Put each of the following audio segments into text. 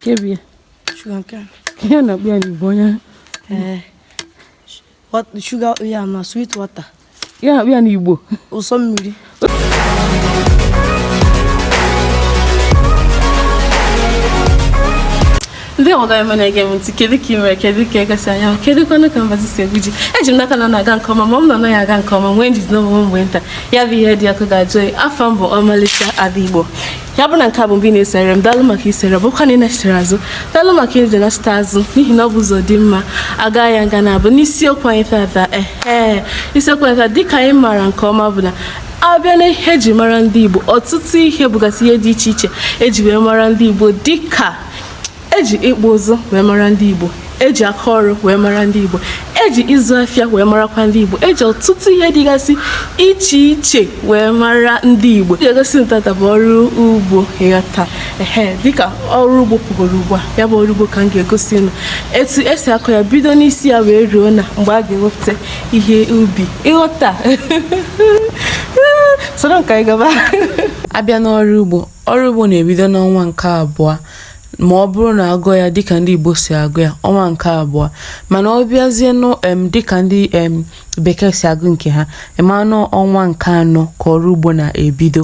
kebie sugar cane ihe a na-akpọ ya n'igbo onye ee wat- sugar ya na sweet water ihe a na-akpọ ya n'igbo ụsọ mmiri ndị ọga eme na-ege m ntị kedu ka ị mere kedu ka eke si anya kedu kwanụ ka mbazi si egwu ji eji m n'aka na ọ na-aga nke ọma ma ọ bụ na ọ naghị aga nke ọma nwee njide onwe m mgbe nta ya bụ ihe dị ọkụ ga-ajụ oyi afa m bụ ọmalịcha ada igbo ya bụ na nke a bụ mbụ ị na-esere m daalụ maka isere ọ bụkwa na ị nachitere azụ daalụ maka iji nachite azụ n'ihi na ọ bụ ụzọ dị mma a gaa ya nga naabọ n'isiokwu anyị tata ehe isiokwu anyị tata dịka anyị maara nke ọma bụ na a bịa na ihe eji mara ndị igbo ọtụtụ ihe bụgasị ihe dị iche iche eji wee mara ndị igbo dịka eji ịkpụ ụzụ wee mara ndị Igbo eji aka ọrụ wee mara ndị Igbo eji ịzụ afịa wee marakwa ndị Igbo eji ọtụtụ ihe dịgasị iche iche wee mara ndị Igbo ihe m ga-egosi unu tata bụ ọrụ ugbo ịghọta ehe dịka ọrụ ugbo pụgoro ugbu a ya bụ ọrụ ugbo ka m ga-egosi unu etu esi akọ ya bido n'isi ya wee ruo na mgbe a ga-ewepụta ihe ubi ịghọta soro m ka anyị gaba a bịa n'ọrụ ugbo Ọrụ ugbo na-ebido n'ọnwa nke abụọ ma ọ bụrụ na a gụọ ya dịka ndị Igbo si agụ ya ọnwa nke abụọ mana ọ bịazie nụ em dịka ndị em bekee si agụ nke ha ị manụ ọnwa nke anọ ka ọrụ ugbo na-ebido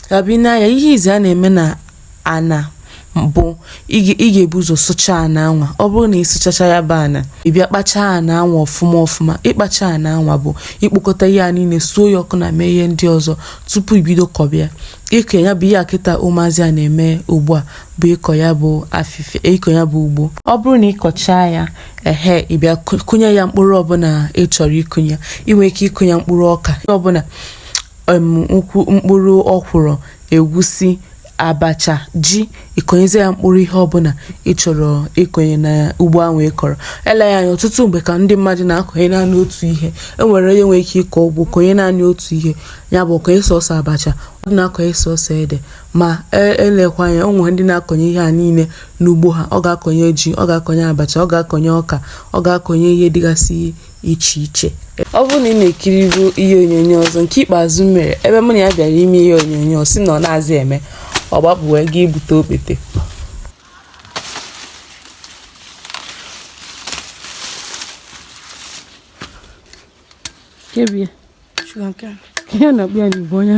a bịa na ya ihe izizi a na-eme na ana bụ ị ga-ebu ụzọ sụchaa ana anwa ọ bụrụ na ị sụchacha ya bụ ana ị bịa kpachaa ana anwa ọfụma ọfụma ịkpacha ana anwa bụ ikpokọta ihe a niile suo ya ọkụ na mee ihe ndị ọzọ tupu i bido kọba ya ịkọ ya bụ ihe a kịta ụmụazị a na-eme ugbu a bụ ịkọ ya bụ afịfịa ịkọ ya bụ ugbo ọ bụrụ na ị kọchaa ya ehe ị bịa kụnye ya mkpụrụ ọbụla ị chọrọ ịkụnye i nwee ike ịkụnye mkpụrụ ọka ọbụla mkpụrụ ọkwụrụ egwusi abacha ji ị kọnyezie ya mkpụrụ ihe ọbụla ị chọrọ ịkọnye na ugbo ahụ ị kọrọ elee ya anya ọtụtụ mgbe ka ndị mmadụ na-akọnye naanị otu ihe e nwere onye nwere ike ịkọ ugbo kọnye naanị otu ihe ya bụ ọ kọnye sọsọ abacha ọ dị na-akọnye sọsọ ede ma elekwa ya anya o nwee ndị na-akọnye ihe a niile n'ugbo ha ọ ga-akọnye ji ọ ga-akọnye abacha ọ ga-akọnye ọka ọ ga-akọnye ihe dịgasị iche iche ọ bụrụ na ị na-ekiribu ihe onyonyo ọzọ nke ikpeazụ m mere ebe mụ na ya bịara ime ihe onyonyo sị na ọ naazị eme ọ gbapụ wee gaa ibute okpete kebie sugar cane ihe a na-akpọ ya n'igbo onye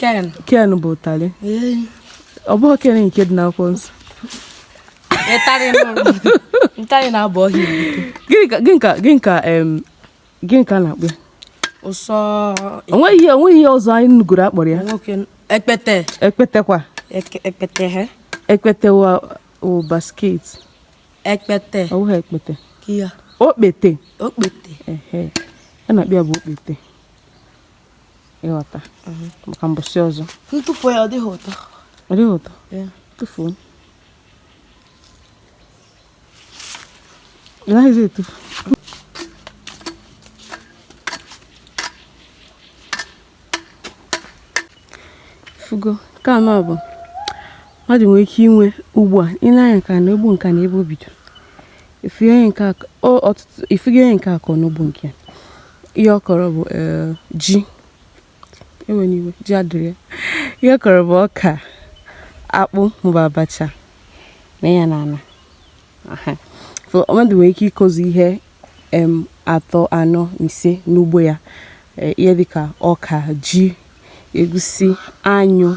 cane cane bụ ụtarị ọ bụghị ken nke dị n'akwụkwọ nsọ ụtarị na-abụ ọhịa gịnị ka gịnị ka a na-akpọ ya ụsọ o nweghị o nweghị ihe ọzọ anyị nugoro a kpọrọ ya ekpete ekpete kwa ekpete he ekpete wa o basket ekpete ọ bụghị ekpete okpete okpete ihe a na-akpọ ya bụ okpete ị ghọta mhm. maka mbọsị ọzọ ntụfuo ya ọ dịghị ụtọ ọ dịghị ụtọ tụfuo ị naghịzi etufu fugo nke anọ bụ mmadụ nwere ike inwe ugbu a i nee anya nka na ugbo nka na ebe o bidoro I fugo ihe onye nke a kọ o ọtụtụ i fugo ihe onye nke a kọ n'ugbo nke ihe ọ kọrọ bụ eh, ji enwe n'iwe ji adịrọ ya ihe ọ kọrọ bụ ọka akpụ maọbụ abacha na ya na ana Aha. so mmadụ nwere ike ịkọzi ihe em, atọ anọ na ise n'ugbo ya Eh, ihe dịka ọka ji egusi anyụ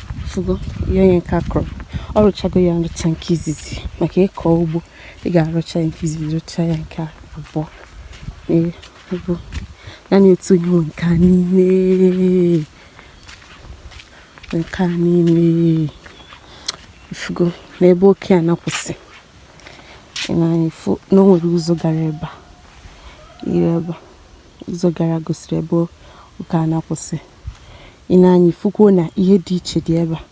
fugo ihe onye nke a kọrọ ọ rụchago ya nrụcha nke izizi maka ịkọ ugbo ị ga-arụcha ya nke izizi rụcha ya nke abụọ bụ naanị otu onye nwe nke a n'ime nke a n'ime ifugo n'ebe oke a na-akwụsị i nee anya i fụ na o nwere ụzọ gara ebe a ire ebe a ụzọ gara gosiri ebe oke a na-akwụsị i nee anya i fukwuo na ihe dị iche dị ebe a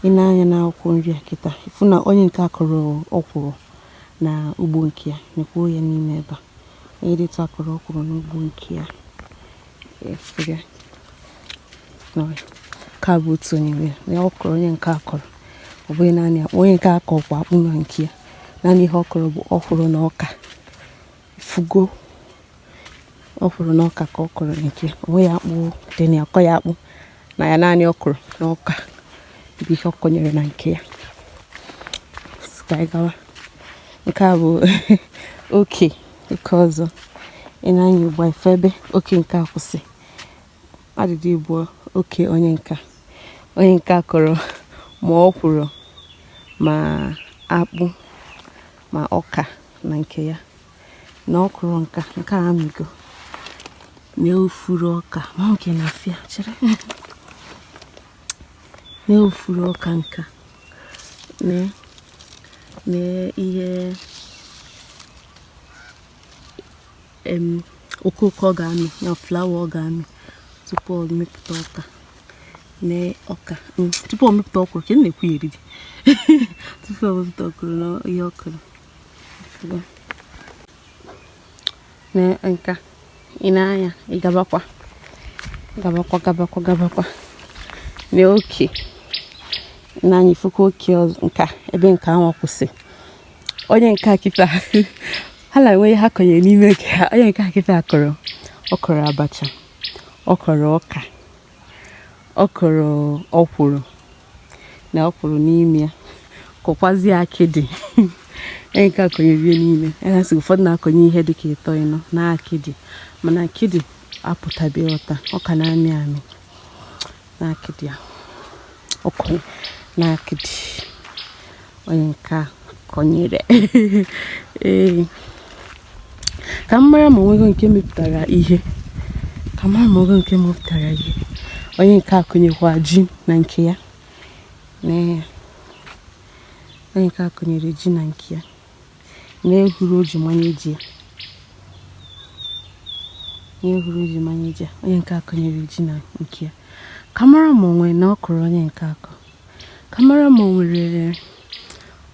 i nee anya na akwụkwọ nri a kịta ị fụ na onye nke a kọrọ ọkwụrụ na ugbo nke ya nekwuo ya n'ime ebe a onye dịtụ a kọrọ ọkwụrụ n'ugbo nke ya efere ka bụ otu onye nwe ya ọ kọrọ onye nke a kọrọ ọ bụghị naanị akpụ onye nke a kọkwa akpụ na nke ya naanị ihe ọ kọrọ bụ ọkwụrụ na ọka fugo ọkwụrụ na ọka ka ọ kọrọ nke ya o nweghị akpụ dị na akọghị akpụ na ya naanị ọkwụrụ na ọka bụ ihe ọ kọnyere na nke ya ka anyị gawa nke a bụ oke oke ọzọ i nee anya ugbu a i fụ ebe oke nke a kwụsị adịdị bụ oke onye nka onye nke a kọrọ ma ọkwụrụ ma akpụ ma ọka na nke ya na ọkwụrụ nka nke a amịgo na ifuru ọka ma nke na afịa chere na ifuru ọka nka na na ihe okooko ọ ga-amị na flawa ọ ga-amị tupu ọ mepụta ọka na ọka mm, tupu ọ mepụta ọkwụrụ ka m na-ekwu ya eriri tupu ọ mepụta ọkwụrụ na ihe ọ kụrụ na nke a i nee anya ị gabakwa gabakwa gabakwa gabakwa na oke nee anya ifukwa oke nke a ebe nke ahụ kwụsị onye nke a kịta ha na enweghị ihe a kọnyere n'ime nke ha onye nke a kịta kọrọ ọ kọrọ abacha ọ kọrọ ọka ọ kọrọ ọkwụrụ na ọkwụrụ n'ime ya kọkwazie akịdị onye nke a kọnyere ihe n'ime ya na ụfọdụ na-akọnye ihe dị ka ịtọ ịnọ na akịdị mana akịdị apụtabeghị ịghọta ọ ka na-amị amị n'akịdị a ọ kụ n'akịdị onye nke a kọnyere ee ka m mara ma onwego nke mepụtara ihe ka m mara ma onwego nke mepụtara ihe onye nke a kụnyekwa ji na nke ya onye nke a kụnyere ji na nke ya na-ehuru o ji manye ji ya na-ehuru o ji manye ji ya onye nke a kụnyere ji na nke ya ka m mara ma o nwere na ọ kụrụ onye nke a kụ ka m mara ma o nwere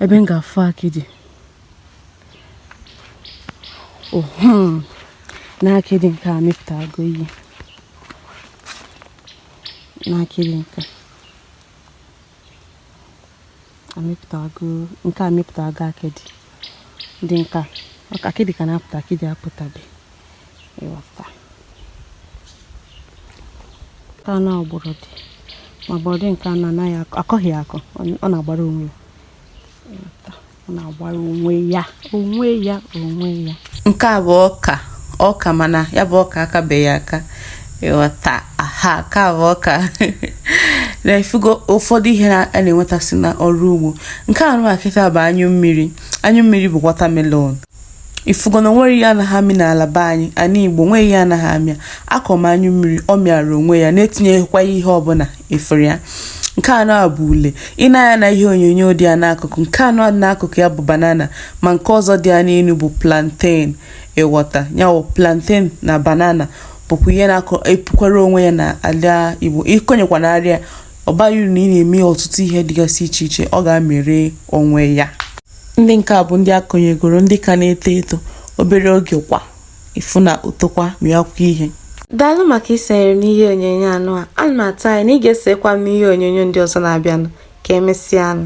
ebe m ga-afụ akịdị ohum na akịdị nke a mepụtago ihe na akịdị nke a amịpụtago nke a mịpụtago akịdị ndị nke a akịdị ka na-apụta akịdị apụtabe ịghọta nke a na ọ gbọrọdị ma gbọrọdị nke a na anaghị akọghị akọ ọ na-agbara onwe ya ọ na-agbara onwe ya onwe ya onwe ya nke a bụ ọka ọka mana ya bụ ọka akabeghị aka ịghọta aha nke a bụ ọka na ifugo ụfọdụ ihe a na-enwetasị na ọrụ ugbo nke a nụwa kịta bụ anyụ mmiri anyụ mmiri bụ watermelon ifugo na onwere ihe anaghị amị n'ala be anyị ana igbo nweghị ihe anaghị amị akọ m anyụ mmiri ọ mịara onwe ya na-etinyeghịkwa ihe ọbụla efere ya nke a nụa bụ ule i nee anya na ihe onyonyo dị ya n'akụkụ nke a dị n'akụkụ ya bụ banana ma nke ọzọ dị ya n'elu bụ plantain ịghọta ya bụ plantain na banana bụkwa ihe na-epukwara onwe ya na ala igbo ị kọnyekwa na arịa ọ baghị uru na ị na-eme ọtụtụ ihe dịgasị iche iche ọ ga-amịrị onwe ya ndị nke a bụ ndị a kụnyegoro ndị ka na-eto eto obere oge kwa ịfụ na o tokwa mịakwa ihe daalụ maka isonyere m n'ihe onyonyo a nụa ana m atụ anya na ị ga-esokwa m n'ihe onyonyo ndị ọzọ na-abịanụ ka emesịanụ